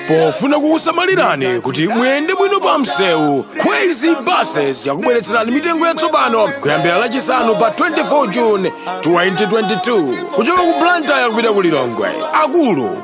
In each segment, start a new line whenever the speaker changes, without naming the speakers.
pofuna kukusamalirani kuti muyende bwino pa msewu kwezy buses yakubweretserani mitengo yatsopano kuyambira lachisanu pa 24 june 2022 kuchoka ku blantyre kupita ku lilongwe akulu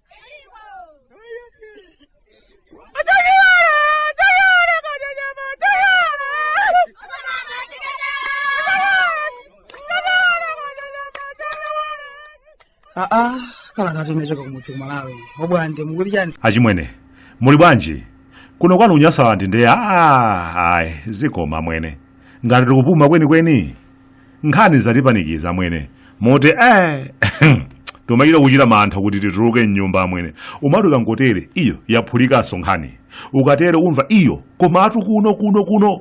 aa kalatatu inachoka kumudzi ku malawi obwande mukuti chani
achimwene muli bwanji kuno kwanu kunyasalandi nde aa ayi zikomo amwene ngati tikupuma kwenikweni nkhani zatipanikiza amwene moti eh timachita kuchita mantha kuti tituluke mnyumba amwene umati ukangotere iyo yaphulikanso nkhani ukatere umva iyo komatu kuno kuno kuno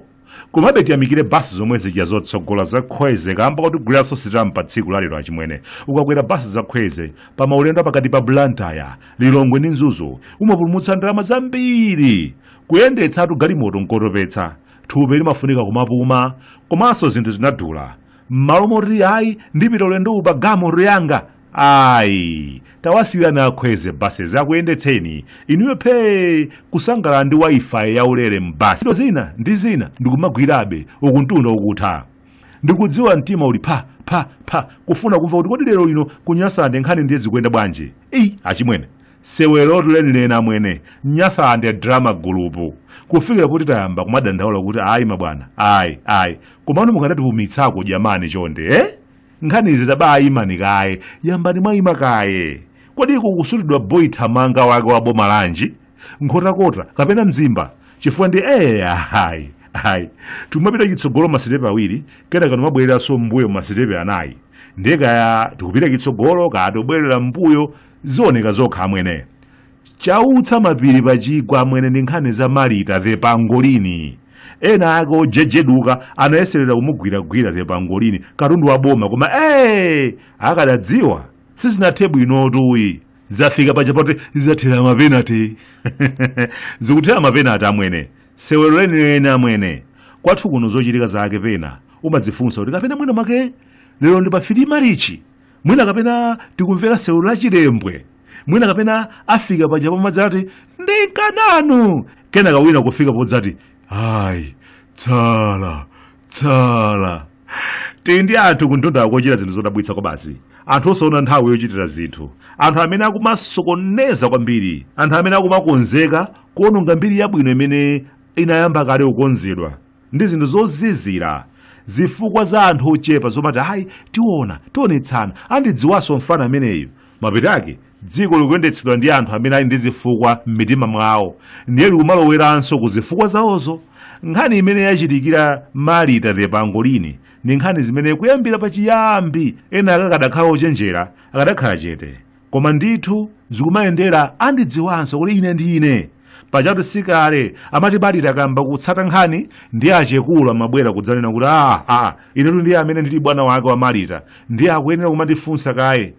komabe tiyamikire basi zomwe zija zotsogola za kwezy kamba kotiguliranso sitampa tsiku lalero achimwene ukakwera basi za kwezy pa maulendo pakati pa blantyre lilongwe ndi mzuzu umapulumutsa ndalama zambiri kuyendetsatu galimoto nkotopetsa thupi limafunika kumapuma komanso zinthu zinadula m'malo moti ayi ndipita ulendowu pa galimoto yanga ayi tawasiyirani a kwezy buses akuyendetseni inuyo phee kusangalala ndi wifi yaulere m'basi Ntchito zina ndi zina ndikumagwirabe uku mtunda ukutha ndikudziwa mtima uli pha pha pha kufuna kumva kuti kodi lero lino kunyasande nkhani ndiye zikuyenda bwanji eyi achimwene Sewerotu lenileni amwene. Nyasande drama group. Kufikira poti tayamba kumadandaula kuti ayi mabwana, ayi, ayi. Komano mukanatipumitsako jamani chonde, eh? Nkhanizi tabaimani kaye, yambani mwaima kaye. Kodi kukusutidwa boy thamanga wake wa boma lanji? Nkhotakota kapena Mzimba? Chifukwa nde eh ayi, ayi. Tikumapita chitsogolo masitepe awiri, kenaka timabwereranso m'mbuyo masitepe anayi. Ndiye kaya tikupita chitsogolo kaya tobwerera m'mbuyo zioneka zokha amwene chautsa mapiri pachigwa amwene ndi nkhani za marita the pangolini ena ake ojejeduka anayeserera kumugwiragwira the pangolini katundu wa boma koma ee akadadziwa sizinathe bwinotuyi zafika paja poti zizathera mapenati zikuthera mapenati amwene sewero lenileni amwene kwathu kuno zochitika zake pena umadzifunsa kuti kapena mwina mwake lero ndi pa 3 marichi mwina kapena tikumvera sewero la chilembwe mwina kapena afika paja pomadzati ndinkananu kenaka wina kufika podzati ayi tsala tsala tili ndi anthu kundonda kochita zinthu zodabwitsa kwabasi anthu osaona nthawi yochitira zinthu anthu amene akumasokoneza kwambiri anthu amene akumakonzeka kuononga mbiri yabwino imene inayamba kale kukonzedwa ndi zinthu zozizira zifukwa za anthu ochepa zomati ayi tiona tionetsana andidziwanso mfana ameneyu mapeto ake dziko likuyendetsedwa ndi anthu amene ali ndi zifukwa m'mitima mwawo ndiye likumaloweranso ku zifukwa zawozo nkhani imene yachitikira marita the pangolini ndi nkhani zimene kuyambira pachiyambi ena akakadakhala ochenjera akadakhala chete koma ndithu zikumayendera andidziwanso kuti ine ndi ine pajatu sikale amati malita akamba kutsata nkhani ndiye achekulu amabwera kudzanena kuti a a inetu ndiye amene ndili bwana wake wa malita ndiye akuyenera kumandifunsa kaye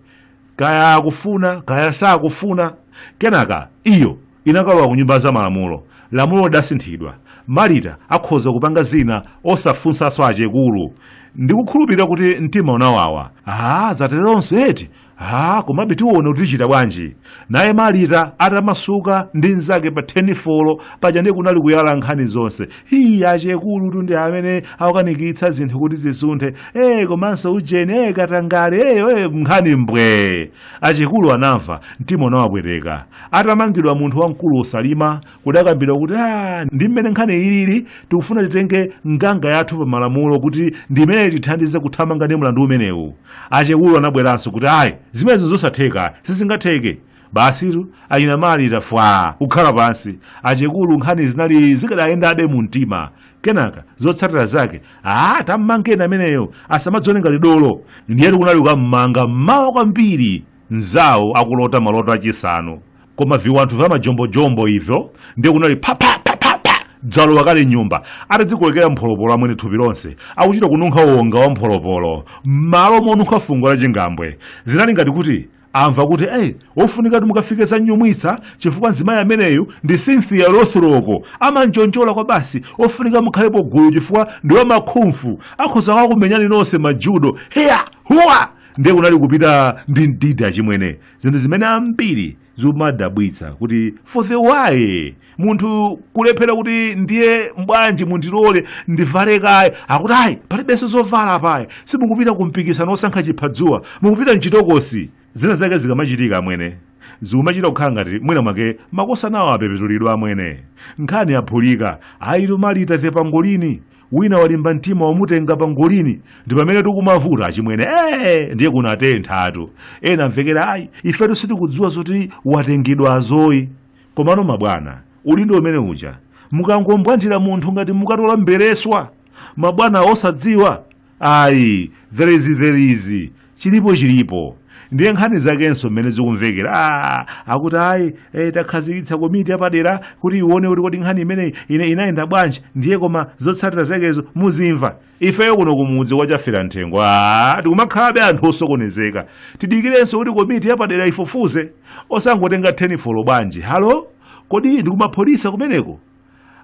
kaya akufuna kaya sakufuna kenaka iyo inakalowa ku nyumba za malamulo lamulo lidasinthidwa malita akhoza kupanga zina osafunsanso achekulu ndikukhulupirira kuti mtima unawawa a zateronso eti ha komabe tiwona kuti tichita bwanji naye marita atamasuka ndi mnzake pa thenifolo paja ndiye kunali kuyala nkhani zonse hiyi achekulutu ndi amene akukanikitsa zinthu kuti zisunthe e komanso ujeni e katangale e, e nkhani mbwee achekulu anamva mtima unawapweteka atamangidwa munthu wamkulu usalima kudakambidwa kuti a ndi mmene nkhani ilili tikufuna titenge nganga yathu pa malamulo kuti ndi imene itithandize kuthamanga ndi mlandu umenewu achekulu anabweranso kuti ayi zimenezo zosatheka sizingatheke basitu achina malita fwaa kukhala pansi achekulu nkhani zinali zikadayendabe mu mtima kenaka zotsatira zake a tammangeni ameneyo asamadzione ngati dolo ndiyetu kunali kukammanga mmawa kwambiri mnzawo akulota maloto achisanu koma viwanthu vya majombojombo ivyo ndiye kunali phaphaphaphapha dzalowa kale m'nyumba atadzikolekera mpholopolo amwene thupi lonse akuchita kununkha wonga wa mpholopolo m'malo monunkha fungo la chingambwe zinali ngati kuti amva kuti eyi wofunika kuti mukafike za nyumwitsa chifukwa mzimayi ameneyu ndi cynthia rothrock amanjonjola kwabasi wofunika mukhalepo gulu chifukwa ndi wamakhumfu akhoza kukakumenyani nonse majudo hiya huwa ndiye kunali kupita ndi mdidi achimwene zinthu zimene ambiri zikumadabwitsa kuti for the why munthu kulephera kuti ndiye mbwanji mundilole ndivale kaye akuti ayi palibenso zovala apa ayi simukupita ku mpikisano wosankha chiphadzuwa mukupita mchitokosi zina zake zikamachitika amwene zikumachita kukhala ngati mwina mwake makosanawo apepetulidwa amwene nkhani yaphulika ayitu malita the pangolini wina walimba mtima wamutenga pangolini ndi pamene tikumavuta achimwene ee ndiye kunatenthatu ena amvekera ayi ifetu sitikudziwa zoti watengedwazo ayi komano mabwana udindo umene uja mukangombwandira munthu ngati mukatola mbereswa mabwana osadziwa ayi there is there is chilipo chilipo ndiye nkhani zakenso mmene zikumvekera ah, akuti ayi eh, takhazikitsa komiti yapadera kuti ione kuti kodi nkhani imeneyi ine inayenda bwanji ndiye koma zotsatira zakezo muzimva ifeyo kuno kumudzi kwa Chafera Mthengo ah, tikumakhalabe anthu osokonezeka tidikirenso kuti komiti yapadera ifufuze osangotenga 10-4 bwanji halo kodi ndikumapolisa kumeneko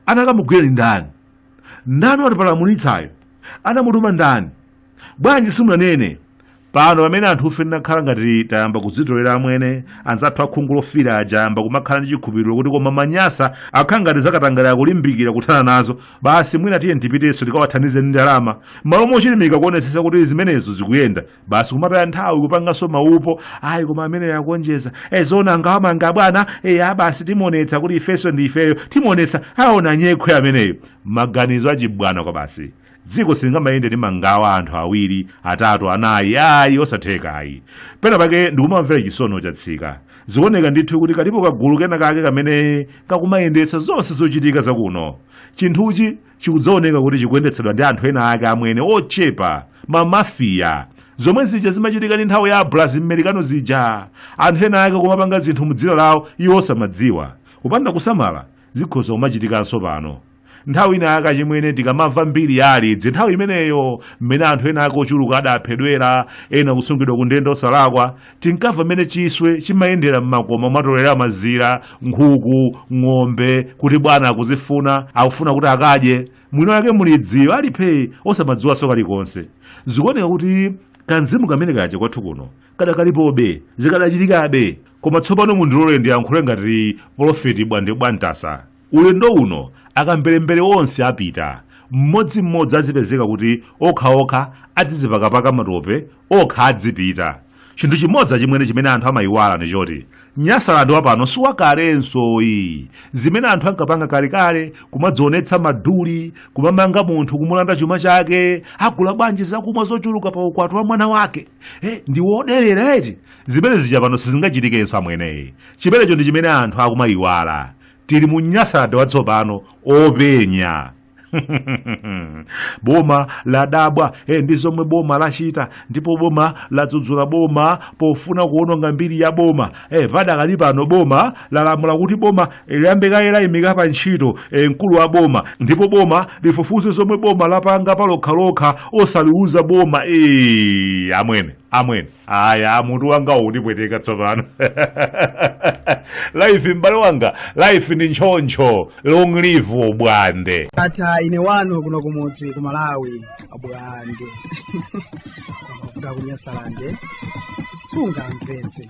anakamugwira ndi ndani ndani watipalamulitsayo anamutuma ndani bwanji simunanene pano pamene anthufe tinakhala ngati tayamba kudzitolera amwene anzathu akhungu lofira aja atayamba kumakhala ndi chikhupiriro kuti koma manyasa akhala ngati zakatangale akulimbikira kuthana nazo basi mwina tiye tipitenso tikawathandize ndi ndalama malo mochilimika kuonetsetsa kuti zimenezo zikuyenda basi kumataya nthawi kupanganso maupo ayi koma ameneyo akuonjeza e zoona angawamange abwana e basi timuonetsa kuti ifenso ndi ifeyo timuonetsa aona nyekhwe ameneyo maganizo achibwana kwabasi dziko silingamayende ndi mangawa anthu awiri atatu anayi ayi osatheka ayi pena pake ndikumawamvera chisono chatsika zikuoneka ndithu kuti kalipo kagulu kena kake kamene kakumayendetsa zonse zochitika zakuno chinthuchi chikudzaoneka kuti chikuyendetsedwa ndi anthu ena ake amwene ochepa mamafiya zomwe zija zimachitika mu nthawi ya abulazi mmerikano zija anthu ena ake kumapanga zinthu mu dzina lawo iwo osamadziwa kupanda kusamala zikhoza kumachitikanso pano nthawi ina yake achimwene tikamamva mbiri ya alidzi nthawi imeneyo mmene anthu ena ake ochuluka adaphedwera ena kusungidwa ku ndende osalakwa Tinkamva mmene chiswe chimayendera m'makoma kumatolera mazira, nkhuku, ng'ombe, kuti bwana akuzifuna, akufuna kuti akadye. Mwini wake mulidziyo ali phee osamadziwanso kalikonse. Zikuoneka kuti kamzimu kamene kaja kwathu kuno kadakalipobe, zikadachitikabe. Koma tsopano mundilole ndiyankhule ngati polofeti Bwande Bwamtasa. Ulendo uno akamberembere onse apita, mmodzimmodzi azipezeka kuti okhaokha adzizipakapaka matope okha adzipita. Chinthu chimodzi achimwene chimene anthu amayiwala ndi choti Nyasaland wa pano si wakalenso ayi. Zimene anthu ankapanga kalekale kumadzionetsa maduli, kumamanga munthu kumulanda chuma chake, agula bwanji zakumwa zochuluka pa ukwati wa mwana wake, eh, ndi woderera eti, zimene zija pano sizingachitikenso amwene. Chimenecho ndi chimene anthu akumayiwala. tili mu Nyasaland watsopano openya boma ladabwa eh, ndi zomwe boma lachita ndipo boma ladzudzula boma pofuna kuononga mbiri ya boma eh, padakali pano boma lalamula kuti boma eh, liyambe kaye layimika pa ntchito eh, mkulu wa boma ndipo boma lifufuze zomwe boma lapanga palokhalokha osaliuza boma eh, amwene amwene aya mutu wanga ukundipweteka tsopano life m'bale wanga life ndi choncho long live ubwande ata ine wanu
kuno kumudzi ku malawi abwande ku Nyasalande sunga mpenzi